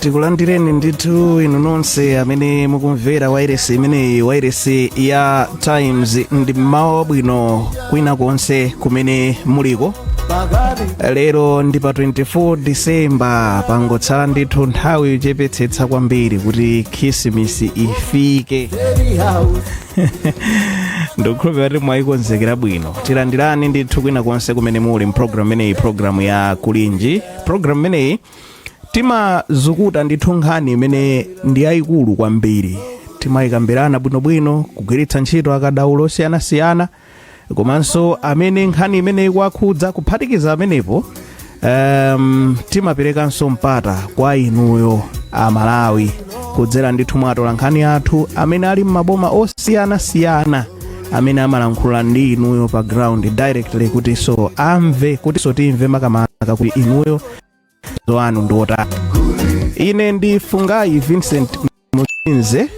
tikulandireni ndithu inu nonse amene mukumvera wairesi imeneyi wairesi ya times ndi m'mawa wabwino kwina konse kumene muliko lero ndi pa 24 disemba pangotsala ndithu nthawi yochepetsetsa kwambiri kuti khrisimisi ifike ndikukhulupirira kuti mwayikonzekera bwino tilandirani ndithu kwina konse kumene muli mpulogalamu imeneyi pulogalamu ya kulinji pulogalamu imeneyi timazukuta ndithu nkhani imene ndi yayikulu kwambiri timayikambirana bwinobwino kugwiritsa ntchito akadaulo osiyanasiyana komanso amene nkhani imene ikuwakhudza kuphatikiza pamenepo um, timaperekanso mpata kwa inuyo amalawi kudzera ndithu mwa atolankhani athu amene ali m'maboma osiyanasiyana amene amalankhula ndi inuyo pa ground directly kutinso amve kutinso timve makamaka kuti inuyo maganizo anu ndi otani ine ndi fungayi vincent musinze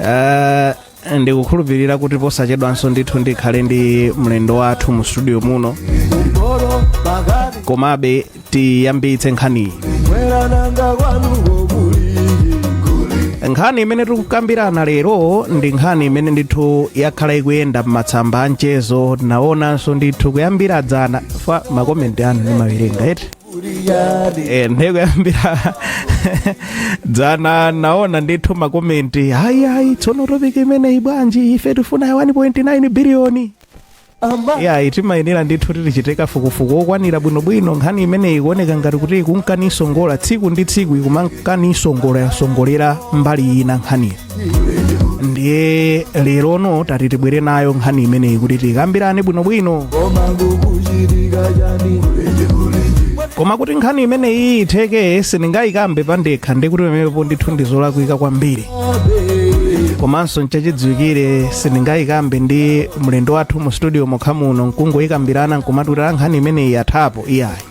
Eh, ndikukhulupirira kuti posachedwanso ndithu ndikhale ndi mlendo wathu mu studio muno komabe tiyambitse nkhaniyi nkhani imene tikukambirana lero ndi nkhani imene ndithu yakhala ikuyenda m'matsamba a mchezo ndinaonanso ndithu kuyambira dzana fa makomenti anu ndimawerenga eti Eh, ndiye kuyambira dzana naona ndithu makomenti ayi ayi tsono topiki imeneyi bwanji ife tifuna 1.9 biliyoni yayi timayenera ndithu kuti tichite kafukufuku wokwanira bwinobwino nkhani imeneyi ikuoneka ngati kuti ikunka nisongola tsiku ndi tsiku ikumanka nisongola yasongolera mbali ina nkhaniyo ndiye lerono tati tibwere nayo nkhani imeneyi kuti tikambirane bwinobwino koma kuti nkhani imeneyi itheke sindingayikambe pandekha ndikuti pamenepo ndithu ndizolakwika kwambiri komanso nchachidziwikire sindingayikambe ndi mlendo wathu mu studio mokha muno nkungoyikambirana nkumatulira nkhani imeneyi yathapo iyayi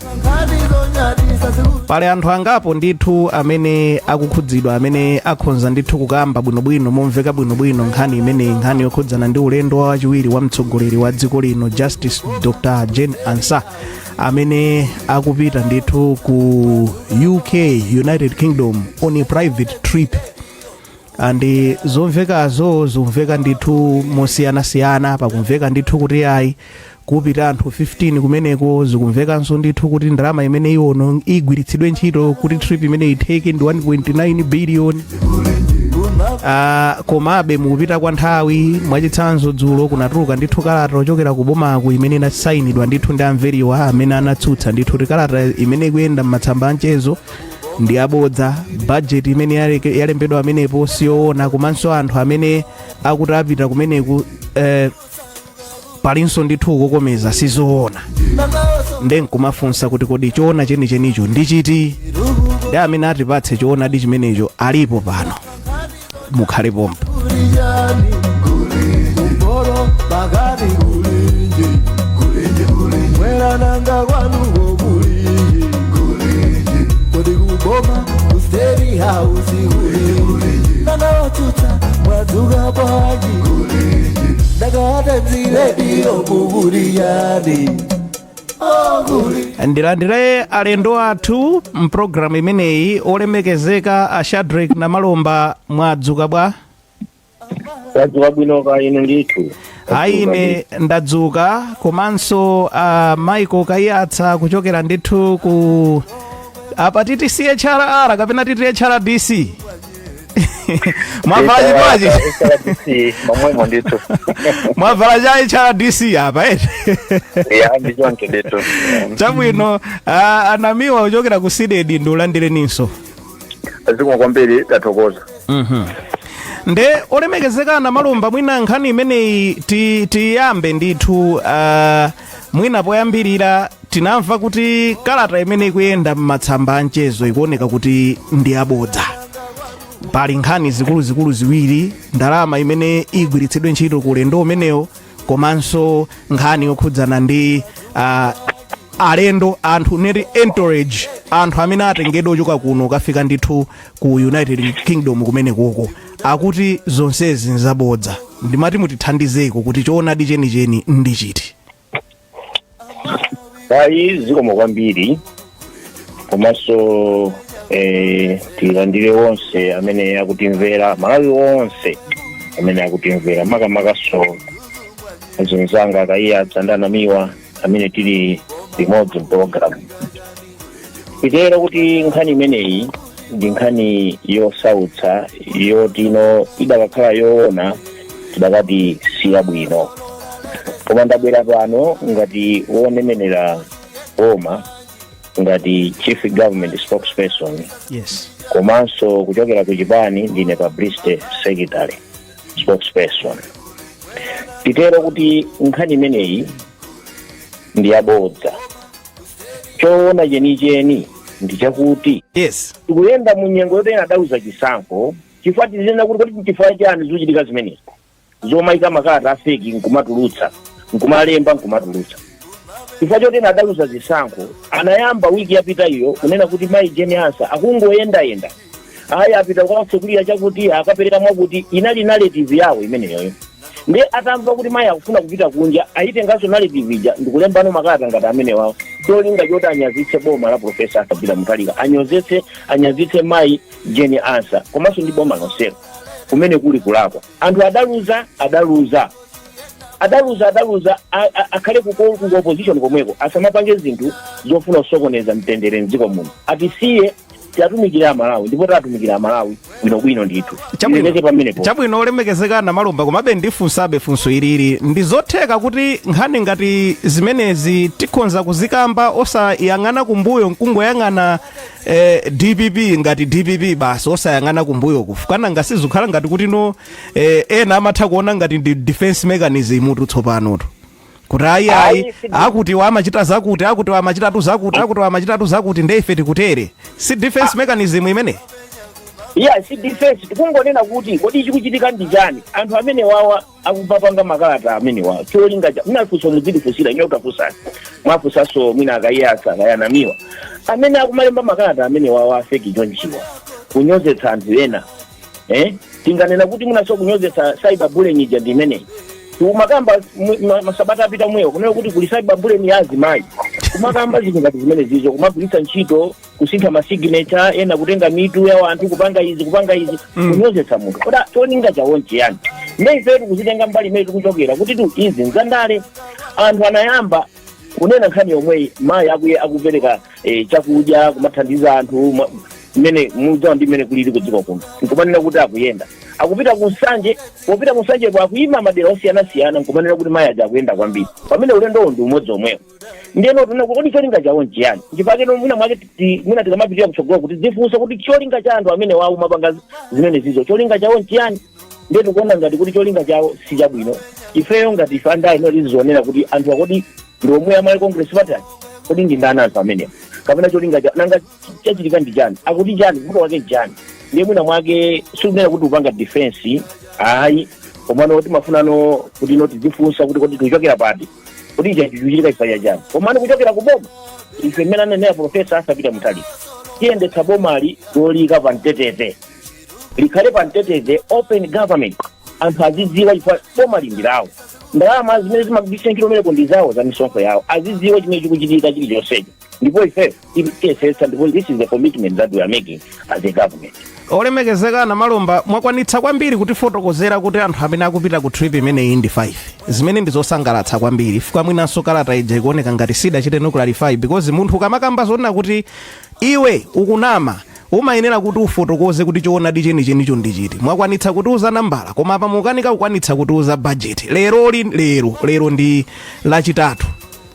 pali anthu angapo ndithu amene akukhudzidwa amene akhonza ndithu kukamba bwinobwino momveka bwinobwino nkhani imeneyi nkhani yokhudzana ndi ulendo wa wachiwiri wa mtsogoleri wa dziko lino justice dr jane ansah amene akupita ndithu ku uk united kingdom on a private trip and zomvekazo zikumveka ndithu mosiyanasiyana pakumveka ndithu kuti ayi kupita anthu 15 kumeneko zikumvekanso ndithu kuti ndalama imene iwono igwiritsidwe ntchito kuti trip imeneyi itheke ndi 1.9 billion Ah, komabe mukupita kwa nthawi mwachitsanzo dzulo kunatuluka ndithu kalata yochokera ku bomaku imene inasayinidwa ndithu ndi a Mveriwa amene anatsutsa ndithu kuti kalata imene ikuyenda m'matsamba a mchezo ndi yabodza bajeti imene yaleke- yalembedwa pamenepo siyoona komanso anthu amene akuti apita kumeneku eh, palinso ndithu kukomeza sizoona nde nkumafunsa kuti kodi choona chenichenicho ndi chiti nde amene atipatse choonadi chimenecho alipo pano mukhale pompo, ndilandire alendo athu mpulogalamu imeneyi olemekezeka a shadrack namalomba mwadzuka bwa tadzuka bwino kaya inu ndithu ayi ine ndadzuka komanso a michael kaiyatsa kuchokera ndithu ku apa titi chrr kapena titi hrdc mwavala chipewa cha hrdc momwemo ndithu mwavala cha hrdc apa eti ya ndi choncho ndithu chabwino ah, a namiwa kuchokera ku cdedi ndikulandireninso zikomo kwambiri tathokoza nde olemekezeka namalomba mwina nkhani imeneyi ti- tiyambe ndithu ah, mwina poyambirira tinamva kuti kalata imene ikuyenda m'matsamba a mchezo ikuoneka kuti ndi yabodza pali nkhani zikuluzikulu ziwiri ndalama imene igwiritsidwe ntchito ku ulendo umenewo komanso nkhani yokhudzana ndi uh, alendo anthu neti entourage anthu amene atengedwa kuchoka kuno kukafika ndithu ku united kingdom kumenekoko akuti zonsezi nzabodza ndimati mutithandizeko kuti choonadi chenicheni ndi chiti ayi zikomo kwambiri komanso eh, tilandire onse amene akutimvera malawi onse amene akutimvera makamakanso azinzanga a kaiyatsa ndi a namiwa amene tili limodzi mpologalamu titero kuti nkhani imeneyi ndi nkhani yosautsa yotino idakakhala yoona tidakati siyabwino koma ndabwera pano ngati woneneraa boma ngati chief government spokesperson yes komanso kuchokera ku chipani ndine publicity secretary spokesperson titero kuti nkhani imeneyi ndi yabodza choona chenicheni ndi chakuti yes tikuyenda mu nyengo yoti ena adaluza chisankho chifukwa tizinena kuti kuti chifukwa chani zikuchitika zimenezi zomayika makalata afeki nkumatulutsa nkumalemba nkumatulutsa chifukwa choti ena adaluza zisankho anayamba wiki yapita iyo kunena kuti mayi jeni ansa akungoyendayenda ayi apita katsekulira chakuti akapereka mwakuti inali narrative yawo imeneyoyo nde atamva kuti mayi akufuna kupita kunja ayitenganso narrative ija ndikulembano makalata ngati amene wawo cholinga choti anyazitse boma la profesa arthur peter mutharika anyazitse anyazitse mayi jeni ansa komanso ndi boma lonselo kumene kuli kulakwa anthu adaluza adaluza adaluza adaluza a- a- akhale kuko- ku opposition komweko asamapange zinthu zofuna kusokoneza mtendere mdziko muno atisiye tiatumikire amalawi ndipo tatumikira amalawi bwinobwino ndithu ileke pamenepo chabwino olemekezeka namalomba komabe ndifunsabe funso ilili ndi zotheka kuti nkhani ngati zimenezi tikhonza kuzikamba osayang'ana kumbuyo nkungoyang'ana eh, dpp ngati dpp basi osayang'ana kumbuyo chifukwa nanga si zikukhala ngati kuti no eh, ena amatha kuona ngati ndi defense mechanism tu tsopanotu kuti ayi ayi Ayi, si- akuti wa amachita zakuti akuti wa amachitatu zakuti akuti wa amachitatu zakuti nde ife tikutere si defense mechanism imene iya si defense tikungonena kuti kodi chikuchitika ndi chani anthu amene wawa akumapanga makalata amene wawa cholinga cha munafunsa mudzidzifunsira ine nditafunsani mwafunsanso mwina a kaiyatsa a kayanamiwa amene akumalemba makalata amene wawa afeki chonchiwa kunyozetsa anthu ena eh tinganena kuti munaso kunyozetsa cyber bullying ija ndi imeneyi umakamba mu- ma- masabata apita mwewo kunena kuti kuli cyber bullying ya azimayi kumakamba zinthu ngati zimene zizo kumagwiritsa ntchito kusintha masignature ena kutenga mitu ya wanthu kupanga izi kupanga izi kunyozetsa munthu kodi cholinga chawo nchiyani ne ife tikuzitenga mbali imene tikuchokera kuti tu izi nzandale anthu anayamba kunena nkhani yomweyi mayi akuye akupereka eh, chakudya kumathandiza anthu ma- mmene mudziwa ndi mmene kulili kudziko kuno nkumanena kuti akuyenda akupita ku nsanje popita ku nsanje ko akuyima madera osiyanasiyana nkumanena kuti mayi aja akuyenda kwambiri pamene ulendowo ndi umodzi omwewo ndiyeno tikuona kodi cholinga chawo nchiyani chifukwa chake no mwina mwake ti- mwina tikamapitira kutsogolo tidzifunse kuti cholinga cha anthu amene wawo omapanga zimene zizo cholinga chawo nchiyani ndiye tikuona ngati kuti cholinga chawo si chabwino ifeyo ngati ife andale imene tizionera kuti anthu kodi ndi omwe a malawi congress party aja kodi ndi ndani anthu amenewa kapena cholinga chawo nanga chachitika ndi chani akuti chani vuto wake chani ndiye mwina mwake sikunena kuti tikupanga defense ayi komano timafunano kuti no tidzifunsa kuti kodi tikuchokera pati kuti ichi chichitika chifukwa chani komano kuchokera ku boma ife mmene ananena profesa arthur peter mutharika tiyendetsa bomali lolika pa mtendere likhale pa mtetete open government anthu azidziwa chifukwa boma limayimira iwo ndalama zimene zimagwiritsa ntchito ndi zawo za misonkho yawo azidziwa chimene chikuchitika chilichonsecho ndipo ife tiyesetsa ndipo this is the commitment that we are making as a government olemekezeka a namalomba mwakwanitsa kwambiri kutifotokozera kuti anthu amene akupita ku trip imeneyi ndi 5 zimene ndi zosangalatsa kwambiri chifukwa mwinanso kalata ija ikuoneka ngati sidachite no clarify because munthu ukamakamba zonena kuti iwe ukunama Umayenera kuti ufotokoze kuti choonadi chenichenicho ndi chiti. Mwakwanitsa kutiuza nambala, koma apa mukukanika kukwanitsa kutiuza bajeti. Lero ndi, lero, lero ndi Lachitatu.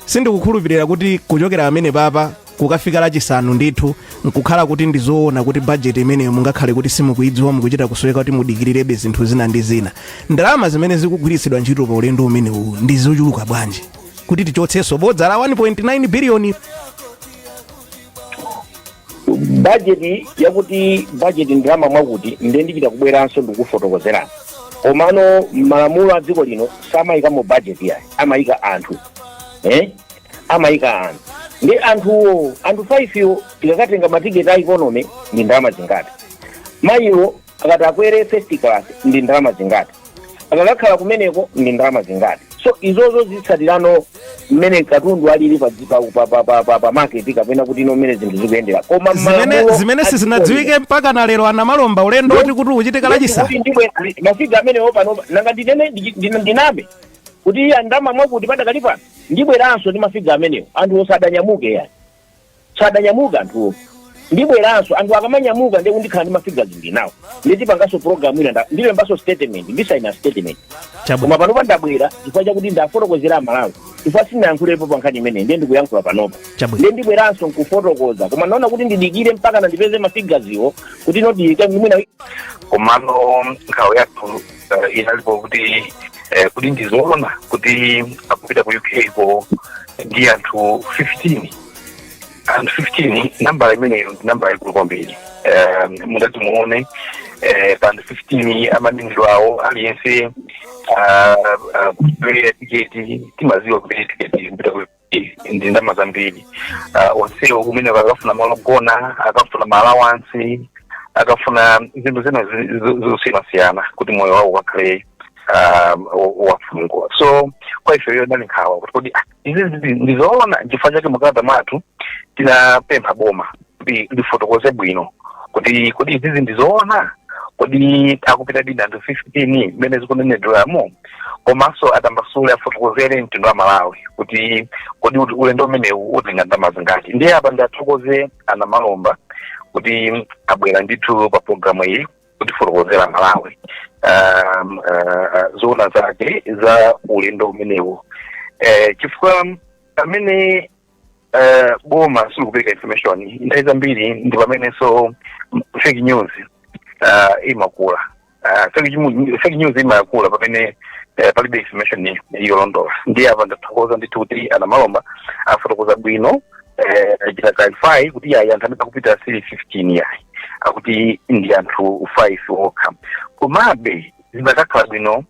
Sindikukhulupirira kuti kuchokera pamene papa kukafika Lachisanu ndithu nkukhala kuti ndi zoona kuti bajeti imeneyo mungakhale kuti simukuidziwa mukuchita kusoweka kuti mudikirirebe zinthu zina ndi zina. Ndalama zimene zikugwiritsidwa ntchito pa ulendo umenewu ndi zochuluka bwanji? Kuti tichotsenso bodza la 1.9 biliyoni budget yakuti budget ndalama mwakuti ndiye ndichita kubweranso ndikufotokozerani komano malamulo a dziko lino samayikamo budget yayi amayika anthu eh? amayika anthu ndi anthuwo anthu 5 wo tikakatenga matiketi a economy ndi ndalama zingati mayiwo akatakwera first class ndi ndalama zingati akatakhala kumeneko ndi ndalama zingati so izozo zitsatirano mmene katundu alili pa dzi- pa- pa- pa- pa- pa- pa market kapena kuti ino mmene zinthu zikuyendera koma zimene malamulo zimene a sizinadziwike dziko mpaka na lero a namalomba ulendo woti kuti uchitika lino, lachisa kuti ndibwe mafiga amenewo pano nanga ndinene ndi- ndi- ndiname kuti iyayi ndalama mwakuti padakali pano ndibweranso ndi mafiga amenewo anthu asadanyamuke yayi sadanyamuka anthuwo ndibweranso anthu akamanyamuka ndiye nkuti ndikhala ndi mafiga ndi nawo ndiye tipanganso program ina nda- ndilembanso statement ndisaina statement koma chabwino panopa ndabwera chifukwa chakuti ndiwafotokozere amalawi chifukwa sinayankhulepo pa nkhani imeneyi ndiye ndikuyankhula panopa Chabwino. ndiye ndibweranso nkufotokoza koma ndaona kuti ndidikire mpaka ndipeze mafiga iwo kuti nodiyike mwina komano nkhawa yathu uh, inalipo kuti eh, kuti ndizoona kuti akupita ku uk ko ndi anthu 15 anthu 15 nambala imeneyo ndi nambala yaikulu kwambiri um, mutati muone eh, pa anthu 15 amanenedwa awo aliyense uh, uh, kupereka tiketi timaziwa kupereka tiketi kupita ku ndi ndalama zambiri uh, onsewo kumeneko akafuna malo ogona akafuna maalawansi akafuna zinthu zina zi- zi- zosiyanasiyana kuti moyo wawo ukakhale um, wa- wafunguka so kwa ife iyo inali nkhawa kuti kodi ah, izi ndi- ndizoona nchifukwa chake mu kalata mwathu tinapempha boma kuti ndifotokoze bwino kuti kodi izizi ndi zoona kodi akupitadi ndi anthu 15 mmene zikunenedweramo komanso atambasule afotokozere mtundu wa malawi kuti kodi uti- ulendo umenewu utenga ndalama zingati ndiye apa ndathokoze a Namalomba kuti abwera ndithu pa programu iyi kutifotokozera Amalawi um, uh, zoona zake za ulendo umenewu eh, chifukwa pamene eh, boma silikupereka information nthawi zambiri ndi pamenenso mm, fake news ah, imakula Ah, fake ju- fake news imakula pamene eh, palibe information yolondola ndiye apa ndathokoza ndithu kuti a Namalomba afotokoza bwino eh, achita clarify kuti yayi anthu amene akupita sili 15 yayi akuti ndi anthu 5 okha komabe zikanakhala bwino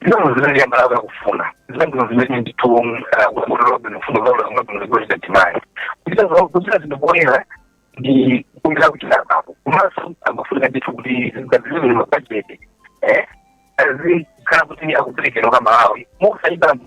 zinthu zimene amalawi akufuna zambino zimene ndithu ulolobino fundo zaulabino zikuchita demand kuchita za- kuchita zinthu poyera ndi kumira kuchita apapo komanso amafunika ndithu kuti zingazilibwino mabajeti eh azikhala kuti akuperekedwa kwa amalawi mokusayidambo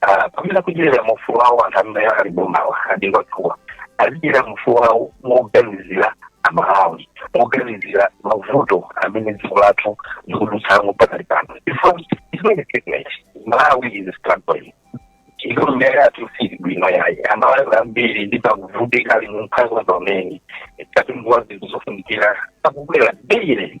ah, pamene akudyerera mufulu wawo anthu amene ali bomawa adziwe kuti azidyerera mufulu wawo moganizira amalawi moganizira mavuto amene dziko lathu likudutsamo pakali pano malawi is struggling economy yathu sili bwino yayi amalawi ambiri ndithu akuvutika ali mumphawi pamene katundu wa zinthu zofunikira akukwera daily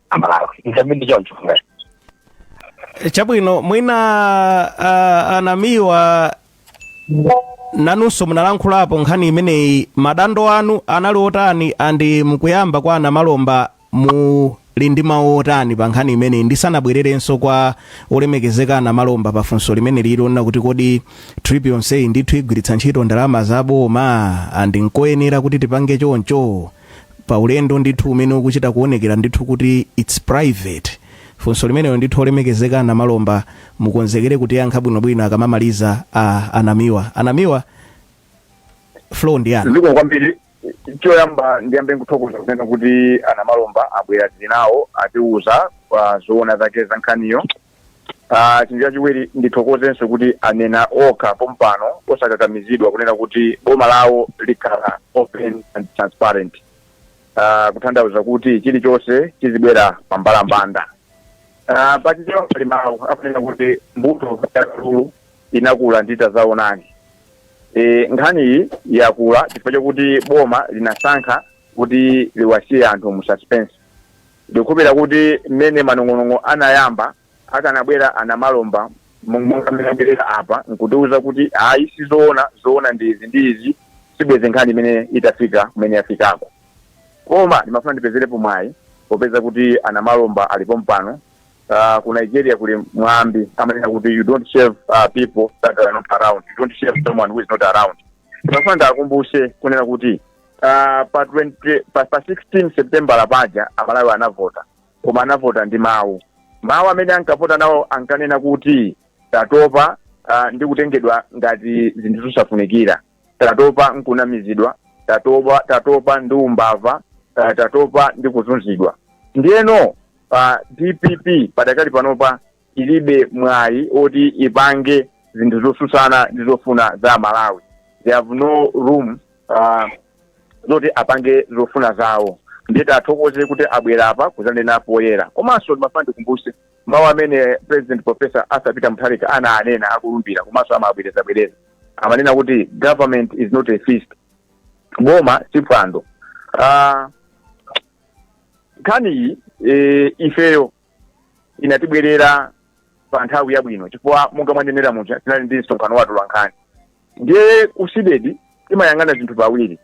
amalawi nkambi ndi choncho ngati chabwino mwina uh, a Namiwa nanunso munalankhulapo nkhani imeneyi madandaulo anu anali otani and mukuyankha kwa a Namalomba muli ndi mawu otani pa nkhani imeneyi ndisanabwererenso kwa olemekezeka a Namalomba pa funso limene lili onena kuti kodi trip yonseyi ndithu igwiritsa ntchito ndalama za boma and nkoyenera kuti tipange choncho pa ulendo ndithu umene ukuchita kuonekera ndithu kuti it's private funso limenelo ndithu olemekezeka a Namalomba mukonzekere kutiyankha bwinobwino akamamaliza a a Namiwa a Namiwa floor ndi yanu zikomo kwambiri choyamba ndiyambe kuthokoza kunena kuti a Namalomba abwera tili nawo atiuzako zoona zake za nkhaniyo Ah, chinthu chachiwiri ndithokozenso kuti anena okha pompano osakakamizidwa kunena kuti boma lawo likhala open and transparent Ah, kutanthauza kuti chilichonse chizibwera pa mbalambanda Ah, pachichewa pali mawu akunena kuti mbuto ya kalulu inakula ndi tadzaonani e, nkhani iyi yakula chifukwa chakuti boma linasankha kuti liwasiye anthu mu suspense Ndikukhulupirira kuti mmene manong'onong'o anayamba, akanabwera a Namalomba monga mmene abwerera apa nkutiuza kuti ayi sizoona, zoona ndi izi ndi izi, sibwenzi nkhani imene itafika kumene yafikako. Koma ndimafuna ndipezerepo mwayi popeza kuti a Namalomba ali pompano, ah, ku Nigeria kuli mwambi amanena kuti you don't shave ah, people that are not around, you don't shave someone who is not around. Ndimafuna ndiakumbuse kunena kuti Ah, pa 20 pa, pa 16 septembala paja amalawi anavota koma anavota ndi mawu mawu amene ankavota nawo ankanena kuti tatopa ah, ndi kutengedwa ngati zinthu zosafunikira tatopa nkunamizidwa tatopa tatopa ndi umbava ah, tatopa ndi kuzunzidwa ndiyeno pa dpp padakali panopa ilibe mwayi oti ipange zinthu zosusana ndi zofuna za malawi they have no room uh, zoti apange zofuna zawo ndiye tiathokoze kuti abwera apa kuzanena poyera komanso ndimafuna ndikumbuse mawu amene president professor arthur peter mutharika ana anena akulumbira komanso amabwerezabwereza amanena kuti government is not a feast boma si phwando Ah, nkhani iyi eh, ifeyo inatibwerera pa nthawi yabwino chifukwa monga mwanenera muja tinali ndi msonkhano wa atolankhani ndiye ku cdedi timayang'ana zinthu pawiri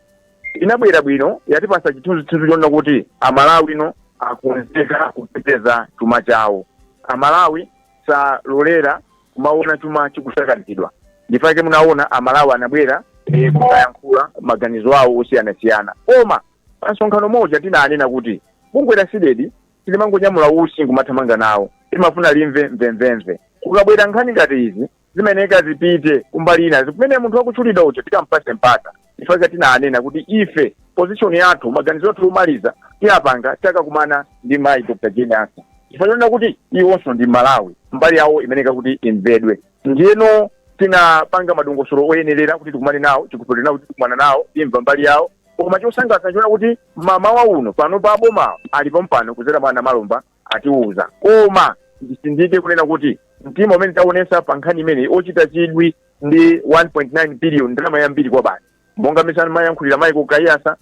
inabwera bwino yatipasa chithunzithunzi chonena kuti amalawi ano akonzeka kuteteza chuma chawo amalawi salolera kumaona chuma chikusakazidwa nchifukwa chake munaona amalawi anabwera eh, kukayankhula maganizo awo osiyanasiyana koma pa msonkhano muja tinanena kuti bungwe la cdedi silimangonyamula usi nkumathamanga nawo limafuna limve mvemvemve kukabwera nkhani ngati izi zimayeneka zipite kumbali ina kumene munthu wakutchulidwa uja tikampase mpata chifukwa tinanena kuti ife position yathu maganizo athu omaliza tiyapanga takakumana ndi mayi dr jane ansah chifukwa chonena kuti iwonso ndi mmalawi mbali yawo imayeneka kuti imvedwe ndiyeno tinapanga madongosolo oyenerera kuti tikumane nawo tikukhulupirira kuti tikumana nawo timva mbali yawo koma chosangalatsa nchonena kuti mamawa uno panopa aboma ali pompano kuzera mwa a namalomba atiuza koma ndisindike kunena kuti mtima umene taonesa pa nkhani imeneyi ochita chidwi ndi 1.9 billion ndalama yambiri kwabasi monga mmene amayankhulira michael kaiyatsa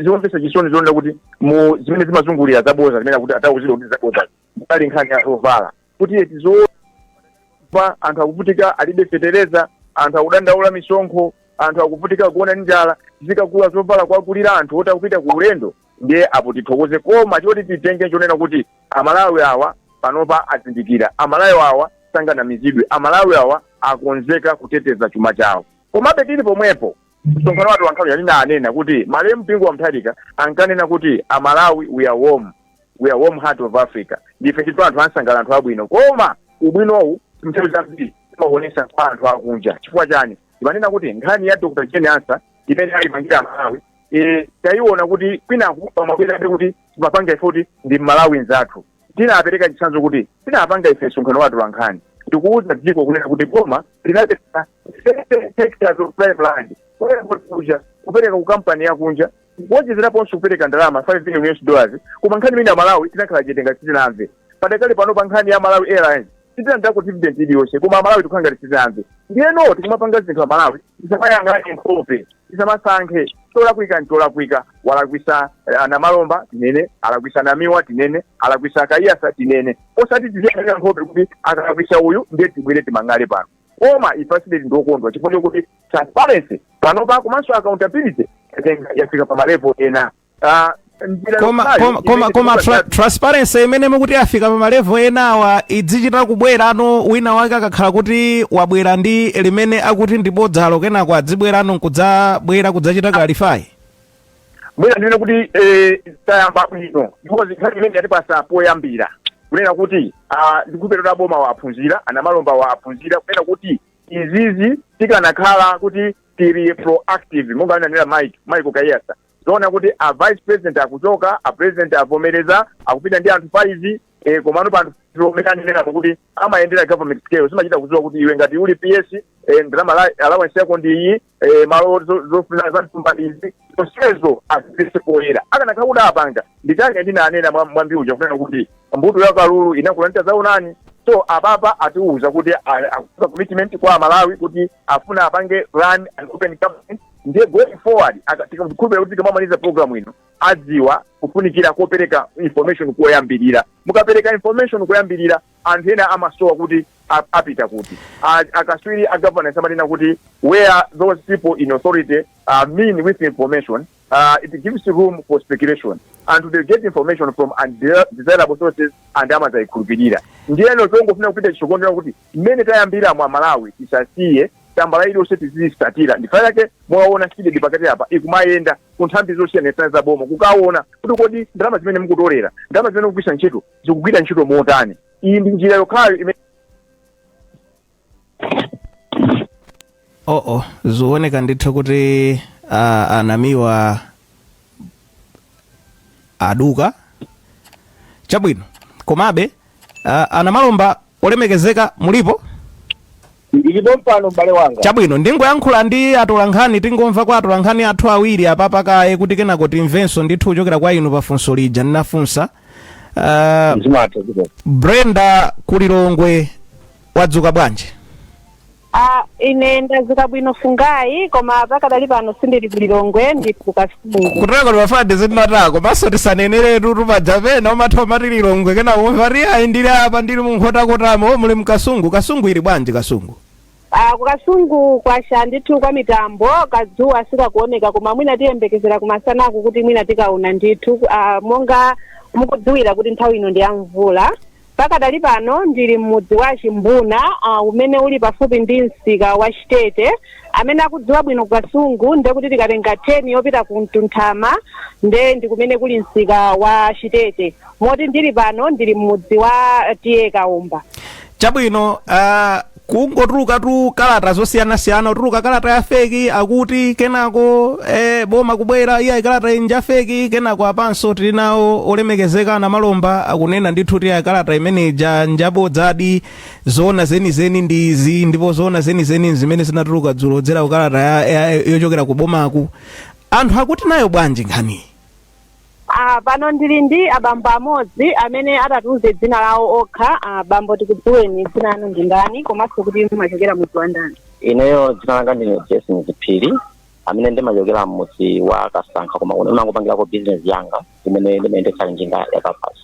zomvesa chisoni zonena kuti mu zimene zimazungulira zaboza zimene akuti atauzidwa kuti zaboza munali nkhani ya zovala kuti eti zoona anthu akuvutika alibe fetereza anthu akudandaula misonkho anthu akuvutika kugona ndi njala zizikagula zovala kuwagulira anthu oti akupita ku ulendo ndiye apo tithokoze koma choti titenge chonena kuti amalawi awa panopa azindikira amalawi awa sanganamizidwe amalawi awa akonzeka kuteteza chuma chawo komabe tili pomwepo Msonkhano wa atolankhani ndinanena kuti malemu Bingu wa Mutharika ankanena kuti a Malawi we are warm, we are warm heart of Africa. Ndife ndithu anthu ansangala anthu abwino. Koma ubwinowu nthawi zambiri timaonesa kwa anthu akunja. Chifukwa chani? Timanena kuti nkhani ya Dr. Jane Ansah imene ayipangira a Malawi eh tayiona kuti kwinaku pamabwerabe kuti timapanga ife kuti ndi Mmalawi nzathu. Tinapereka chitsanzo kuti tinapanga ife msonkhano wa atolankhani ndikuwuza dziko kunena kuti boma linapereka 30 hectares of prime land ku airport kuja kupereka ku kampani yakunja kuwonjezeraponso kupereka ndalama 5 billion US dollars koma nkhani imeneyi a Malawi tinakhala chete ngati sitinamve padakali pano pa nkhani ya Malawi Airlines sitinalandireko dividend iliyonse koma amalawi tikukhala ngati sitinamve ndiyeno tikumapanga zinthu amalawi tisamayang'ane nkhope tisamasankhe cholakwika ncholakwika walakwisa eh, a Namalomba tinene alakwisa Namiwa tinene alakwisa Kaiyatsa tinene osati tiziyang'anira nkhope kuti akalakwisa uyu ndiye tibwere timang'ale pano koma ife a CDEDI ndi okondwa chifukwa chokuti transparency panopa komanso accountability yatenga- yafika pa malevo ena Ah, njira koma yokhayo koma koma, imene koma tra, tikupatsa- transparency imene mukuti afika pa malevo enawa idzichita kubwera ano wina wake akakhala kuti wabwera ndi limene akuti ndi bodzalo kenako adzibwera ano nkudzabwera kudzachita clarify mwina ndinene kuti eh, tayamba bwino because nkhani imene yatipasa poyambira kunena kuti ah, ndikhulupirira kuti a bomawa aphunzira a Namalombawa aphunzira kunena kuti izizi tikanakhala kuti tili proactive monga ananena mike Michael Kaiyatsa Zoona kuti a vice president akuchoka, a president avomereza, akupita ndi anthu 5, eh, komano pa anthu 5 omwe anenerako kuti amayendera government scale, zimachita kudziwa kuti iwe ngati uli PS, eh, ndalama la- allowance yako ndi iyi, eh, malo zo- zofuna za mthumba ndi izi, zonsezo azibweretse poyera. Akanakhala kuti apanga, nchifukwa chake ndinanena mwa- mwambi uja kunena kuti mbuto ya kalulu inakula ndi tadzaonani so apapa atiuza kuti a- akuza commitment kwa amalawi kuti afuna apange run an open government ndiye going forward aka- tikukhulupirira kuti tikamamaliza program ino adziwa kufunikira kopereka information koyambirira mukapereka information koyambirira anthu ena amasowa kuti a- apita kuti A- akaswiri a governance amanena kuti where those people in authority are mean with information uh, it gives room for speculation and they get information from undesirable sources and amazayikhulupirira ndiyeno chongofuna kupita chitsogolo kuti mmene tayambiramu amalawi tisasiye tambala iliyonse tiziyisatira ndi chifukwa chake mwaona CDEDI pakati apa ikumayenda ku nthambi zosiyanasiyana za boma kukaona kuti kodi ndalama zimene mukutolera ndalama zimene mukugwiritsa ntchito zikugwira ntchito motani iyi ndi njira yokhayo imene oh oh zioneka ndithu kuti ah, anamiwa aduka chabwino komabe ah, a Namalomba olemekezeka mulipo ndilipo mpano m'bale wanga chabwino ndingoyankhula ndi atolankhani tingomva kwa atolankhani athu awiri apapa kaye kuti kenako timvenso ndithu kuchokera kwa inu pafunso lija ndinafunsa ah, zimatha dziko Brenda ku Lilongwe wadzuka bwanji a ine ndadzuka bwino fungayi koma pakadali pano sindili ku lilongwe ndili ku Kasungu kutoka timafade zimatako komanso tisaneneretu paja pena umatha umati lilongwe pena umati ayi ndili apa ndili mu Nkhotakotamo o muli mkasungu kasungu ili bwanji kasungu Ah, ku kasungu kwacha ndithu kwa mitambo kadzuwa sikakuoneka koma mwina tiyembekezera kumasanaku kuti mwina tikaona ndithu ah, monga mukudziwira kuti nthawi ino ndi ya mvula Pakadali pano ndili m'mudzi wa Chimbuna a umene uli pafupi ndi msika wa Chitete. Amene akudziwa bwino ku Kasungu nde kuti tikatenga turn yopita ku Mtunthama nde ndi kumene kuli msika wa Chitete. Moti ndili pano ndili m'mudzi wa TA Kaomba. Chabwino a. kungotulukatu kalata zosiyanasiyana kutuluka kalata ya feki akuti kenako eh, boma kubwera ayi kalata iyi nja feki kenako apanso tili nawo olemekezeka Namalomba akunena ndithu kuti ayi kalata imene ija njabodzadi zoona zenizeni ndi izi ndipo zoona zenizeni zimene zinatuluka dzulo kudzera ku kalata ya- ya- yochokera ku bomaku anthu akuti nayo bwanji nkhaniyi Ah, pano ndili ndi abambo amodzi amene atatiuze dzina lawo okha. Ah, bambo tikudziweni dzina lanu ndi ndani komanso kuti mumachokera mudzi wa ndani? ineyo dzina langa ndine jason Z Phiri amene ndimachokera m'mudzi wa kasankha koma kuno ndimangopangirako bizinesi yanga imene ndimayendetsa njinga ya kabaza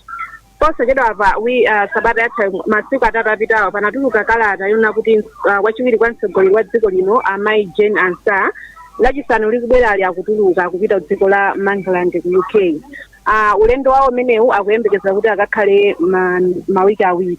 posachedwapa wi uh, sabata yatha masiku atatu apitawo panatuluka kalata yonena kuti uh, wachiwiri kwa mtsogoleri wa dziko lino amayi jane ansah lachisanu likubwerali akutuluka kupita ku dziko la Mangalande ku uk uh, ulendo wawo umenewu akuyembekeza kuti akakhale ma, mawiki awiri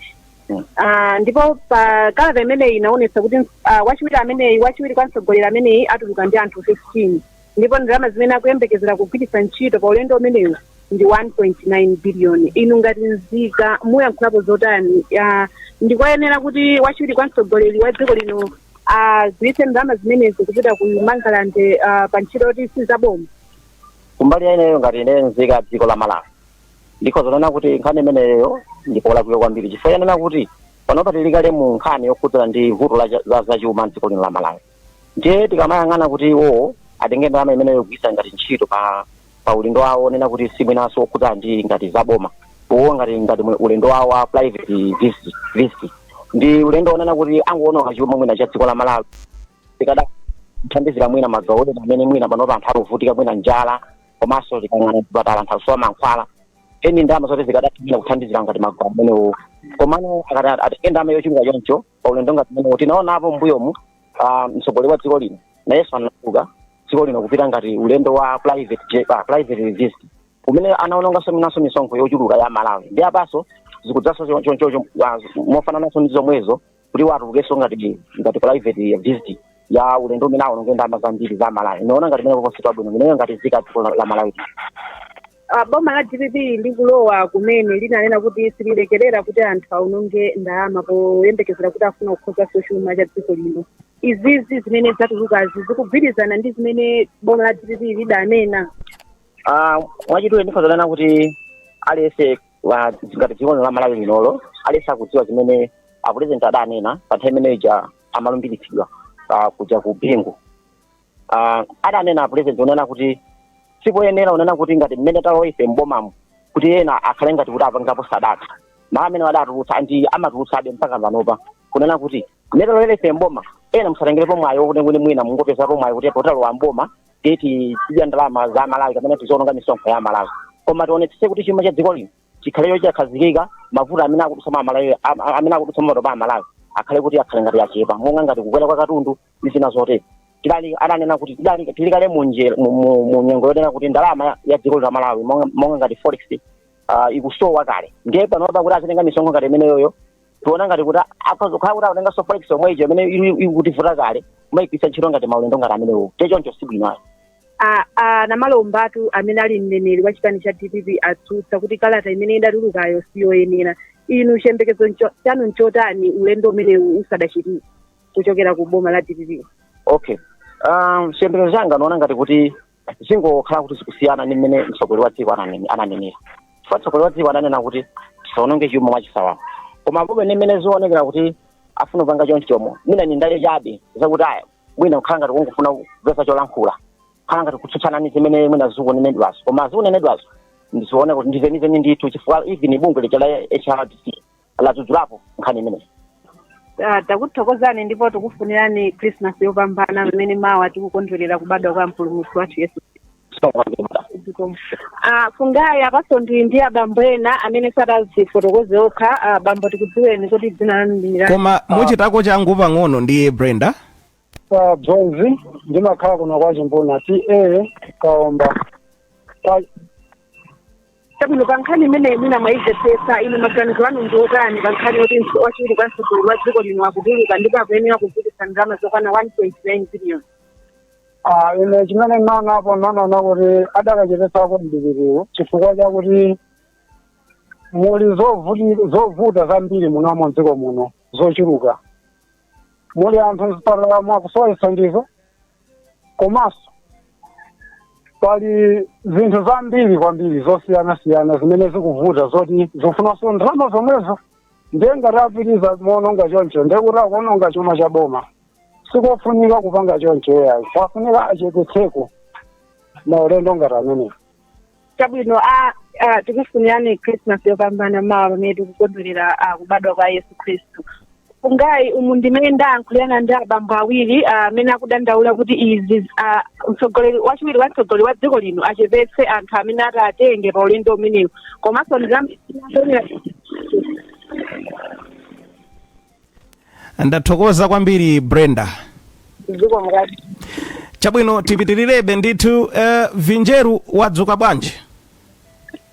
Ah, ndipo pa kalata imeneyi inaonetsa kuti ah, wachiwiri ameneyi wachiwiri kwa mtsogoleri ameneyi atuluka ndi anthu 15 ndipo ndalama zimene akuyembekezera kugwiritsa ntchito pa ulendo umenewu ndi 1.9 biliyoni inu ngati nzika muyankhulapo zotani Ah, ndikoyenera kuti wachiwiri kwa mtsogoleri wa dziko lino agwiritse ndalama zimenezi kupita ku mangalande ah, pa ntchito yoti sizaboma kumbali ya ineyo ngati ine nzika dziko la malawi ndikhoza kunena kuti nkhani imeneyo ndi yolakwika kwambiri chifukwa chonena kuti panopa tili kale mu nkhani yokhudzana ndi vuto la cha- za zachuma mdziko lino la malawi ndiye tikamayang'ana kuti iwowo atenge ndalama imeneyo kugwiritsa ngati ntchito pa ulendo wawo onena kuti si mwinanso okhudzana ndi ngati za boma uwo ngati ngati mwe- ulendo wawo wa private visit ndi ulendo onena kuti angoononga chuma mwina cha dziko la malawi zikadatha kuthandizira mwina magawo ena amene mwina panopa anthu akuvutika mwina njala komanso tikayang'ana zipatala anthu akusowa mankhwala ndi ndalama zoti zikadatha mwina kuthandizira ngati magawo amenewo komano akati atenge ndalama yochuluka choncho pa ulendo ngati umenewo tinaonapo mbuyomu ah, mtsogoleri wa dziko lino nayenso anatuluka dziko lino kupita ngati ulendo wa private jet- ah, private visit umene anaononganso mwinanso misonkho yochuluka ya malawi ndi apanso zikudzanso cho- cho- cho- cho- ah, mofanananso ndi zomwezo kuti watulukenso ngati ngati private visit ya ulendo umene aononge ndalama zambiri za malawi ndikuona ngati zimenezo si zabwino ineyo ngati nzika ya dziko la la malawi Ah, boma la dpp likulowa kumene linanena kuti sililekerera kuti anthu aononge ndalama poyembekezera kuti afuna kukonza chuma cha dziko lino izizi zimene zatulukazi zikugwirizana ndi zimene boma la dpp lidanena Ah, mwachidule ndikhoza kunena kuti aliyense wa- ngati dziko la malawi linoli aliyense akudziwa zimene apulezidenti adanena pa nthawi imene ija amalumbiritsidwa ah, kuja ku bingu uh, adanena apulezidenti kunena kuti sipoyenera kunena kuti ngati mmene talowa ife m'bomamu kuti ena akhale ngati kuti apangapo sadaka mawu amene adatulutsa ndi amatulutsabe mpaka panopa kunena kuti mmene talowera ife m'boma ena musatengerepo mwayi wokuti kuti mwina mungopezapo mwayi kuti poti talowa m'boma tizidya ndalama za malawi kapena tiziononga misonkho ya malawi koma tionetsetse kuti chuma cha dziko lino chikhale chokhazikika mavuto amene akudutsa amalawi am- am- amene akudutsa panopa a malawi akhale kuti akhale ngati achepa monga ngati kukwera kwa katundu ndi zina zotero adanena kuti tidali tili kale mu nje- mu- mu- mu nyengo yonena kuti ndalama ya- ya dziko la malawi monga monga ngati forex ah, ikusowa kale ndiye panopa kuti azitenga misonkho ngati imeneyoyo tiona ngati kuti akhoza kukhala kuti akutenganso forex yomwe ija imene ili- ili kutivuta kale kumaigwiritsa ntchito ngati maulendo ngati amenewo te choncho si bwino ayi a- a- namalomba tu amene ali mneneri wa chipani cha dpp watsutsa kuti kalata imene idatulukayo siyoyenera inu chiyembekezo ncho- chanu nchotani ulendo umenewu usadachitike kuchokera ku boma la dpp okay um, chiyembekezo changa ndiona ngati kuti zingokhala kuti zikusiyana ndi mmene mtsogoleri wa dziko ananene- ananenera chifukwa mtsogoleri wa dziko ananena kuti tisaononge chuma mwachisawawa koma pomwe ndi mmene zionekera kuti afuna kupanga chonchomo mwina ndi ndale chabe zakuti aya mwina kukhala ngati kungofuna kupeza cholankhula kukhala ngati kutsutsana ndi zimene mwina zikunenedwazo koma zikunenedwazo ndiziona kuti ndizenizeni ndithu chifukwa even bungwe lija la hrdc ladzudzulapo nkhani imeneyi Ah, takuthokozani ndipo tikufunirani christmas yopambana pamene mawa tikukondwerera kubadwa kwa mpulumutsi wathu yesu Zikomo. Ah, fungayi apaso ndili ndi abambo ena amene atazifotokoze okha ah, bambo tikudziweni kuti dzina lanu ndani koma muchitako changu pang'ono ndi brenda pa bwenzi ndimakhala kuno kwa chimbuna ta kaomba kwa chabwino pa nkhani imeneyi mwina mwayimvetsetsa inu maganizo anu ndi otani pa nkhani yoti wachiwiri kwa mtsogoleri wa dziko lino akutuluka ndipo akuyenera kugwiritsa ndalama zokwana 1.9 billion Ah, ine chimene ndinaonapo ndinaona kuti adakachepetsako mdipitiwo chifukwa chakuti muli zovuti- zovuta zambiri munomo mdziko muno zochuluka muli anthu mzipatalamo akusowa chithandizo komanso pali zinthu zambiri kwambiri zosiyanasiyana zimene zikuvuta zoti zikufunanso ndalama zomwezo ndiye ngati apitiriza moononga choncho ndiye kuti akuononga chuma cha boma sikofunika kupanga choncho eyayi kwafunika achepetseko maulendo ngati amenewo chabwino a a, tikufunirani christmas yopambana mawa pamene tikukondwerera a, kubadwa kwa yesu khristu fungayi umu ndimene ndayankhulirana ndi abambo awiri a, amene akudandaula kuti izi a, mtsogoleri wachiwiri wa mtsogoleri wa dziko lino achepetse anthu amene ati atenge pa ulendo umenewu komanso ndizamsonera ndathokoza kwambiri brenda dziko mukati chabwino tipitirirebe ndithu uh, vinjeru wadzuka bwanji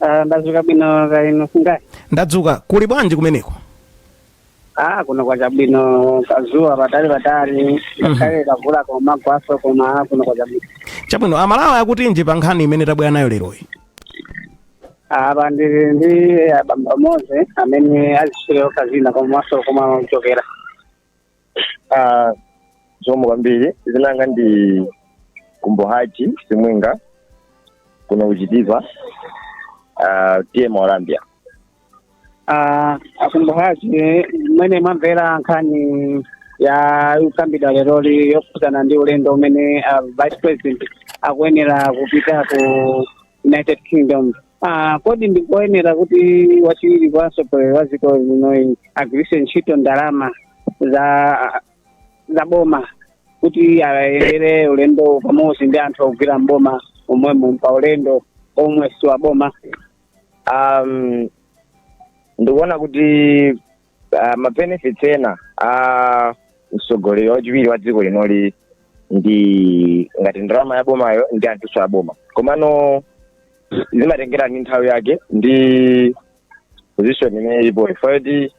Ah, ndadzuka bwino kaya inu fungayi ndadzuka kuli bwanji kumeneko ah kuno kwacha bwino kazuwa patali patali ngakhale kamvula kumagwaso koma ah, kuno kwacha bwino chabwino amalawi akutinji pa nkhani imene tabwera nayo leroyi apa ndili ndi abambo amodzi amene aziswera okha dzina komanso komwe amachokera Ah, zikomo kwambiri dzina langa ndi kumbohaji simwinga kuno kuchitipa ah, ta mwaulambia Ah, akumbukazi mmene mwamvera nkhani ya ikukambidwa leroli yokhudzana ndi ulendo umene ah, vice president akuyenera kupita ku united kingdom Ah, kodi ndikoyenera kuti wachiwiri kwa mtsogoleri wa dziko linoyi agwiritse ntchito ndalama za za boma kuti ayendere ulendo pamodzi ndi anthu ogwira mboma omwemo pa ulendo omwe si wa boma um, ndikuona kuti uh, mabenefits ena a mtsogoleri wachiwiri wa dziko linoli ndi ngati ndalama ya bomayo ndi anthuso a boma komano zimatengera ndi nthawi yake ndi position imene ilipoyo chifukwa choti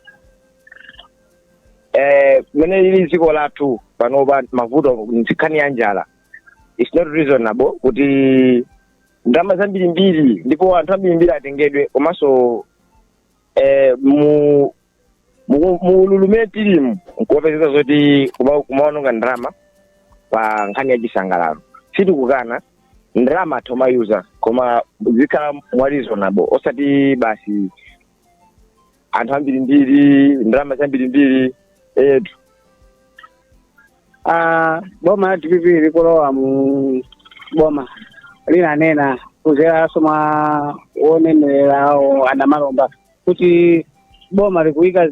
eh, mene ili dziko lathu panopa mavuto nkhani ya njala its not reasonable kuti ndalama zambirimbiri ndipo anthu ambirimbiri atengedwe komanso eh, mu mu- mu ululu umene tilimu nkumapezeka zoti kuma- kumaononga ndalama pa nkhani ya chisangalalo sitikukana ndalama atha kumayuza koma zikhale mwa reasonable osati basi anthu ambirimbiri ndalama zambirimbiri etu Ah, boma la dpp likulowa mu boma linanena kuzeranso mwa wowanenera wawo a Namalomba kuti boma likuika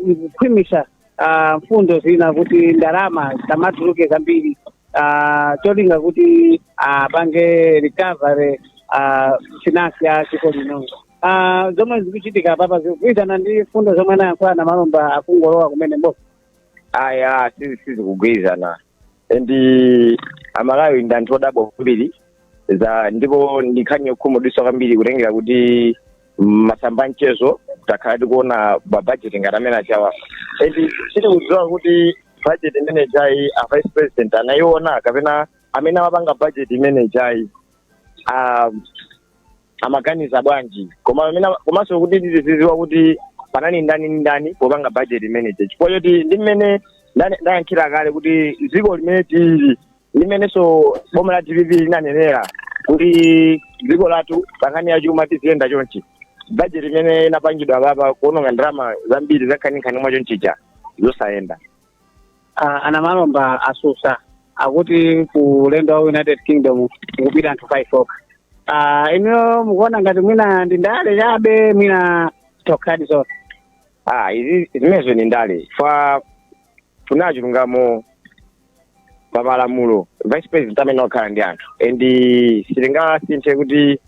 likukhwimitsa ah, mfundo zina kuti ndalama zisamatuluke zambiri ah, cholinga kuti apange recovery ah, finance ya dziko lino Ah, zomwe zikuchitika apapa zikugwirizana ndi mfundo zomwe anayankhula a Namalomba akungolowa kumene mboma ayi sizi sizikugwirizana and amalawi ndi anthu odabwa kwambiri za ndipo ndi nkhani yokhumudwitsa kwambiri kutengera kuti mmasamba a mchezo takhala tikuona mabajeti ngati amene ajawa and sitikudziwa kuti bajeti imene ijayi a vice president anayiona kapena amene amapanga bajeti imene ijayi ah, amaganiza bwanji koma amene komanso kuti tizidziwa kuti panali ndani ndi ndani popanga budget imene ija chifukwa choti ndi mmene ndane- ndayankhulira kale kuti dziko limene tili ndi mmenenso boma la dpp linanenera kuti dziko lathu pankhani ya chuma tiziyenda chonchi budget imene inapangidwa apapa kuononga ndalama zambiri zankhaninkhani mwa chonchija zosayenda Ah, a Namalomba atsutsa akuti ku ulendo wa united kingdom kukupita anthu 5 okha Ah, inuyo mukuona ngati mwina ndi ndale chabe mwina ndi zokhadi zoona ah izi zimenezo ndi ndale chifukwa kunena chilungamo pa malamulo vice president amayenera kukhala ndi anthu and sitingasinthe kuti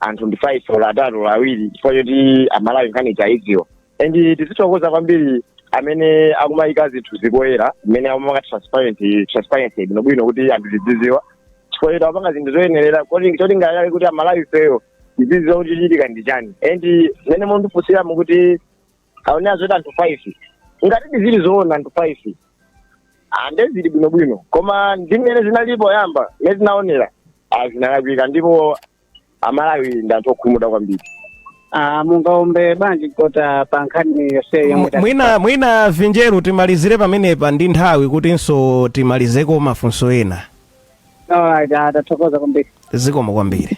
anthu ndi 5 olo atatu olo awiri chifukwa choti amalawi nkhani taidziwa and tizithokoza kwambiri amene akumayika zinthu zi poyera amene akumapanga transparent transparency bwinobwino kuti anthu tizidziwa chifukwa choti amapanga zinthu zoyenerera koti cholinga chake kuti amalawi ifeyo tizidziwa kuti chikuchitika ndi chani and mmene mwandifunsiramo kuti aonera zoti anthu 5 ngatidi zili zoona anthu 5 nde zili bwinobwino koma ndi mmene zinali poyamba mmene zinaonera ah, zinalakwika ndipo amalawi ndi anthu okhumudwa kwambiri Ah, mungaombe bwanji kota pa nkhani yonse yomwe tati- mwina mwina vinjeru timalizire pamenepa ndi nthawi kutinso timalizeko mafunso ena Alright, ah, tathokoza kwambiri zikomo kwambiri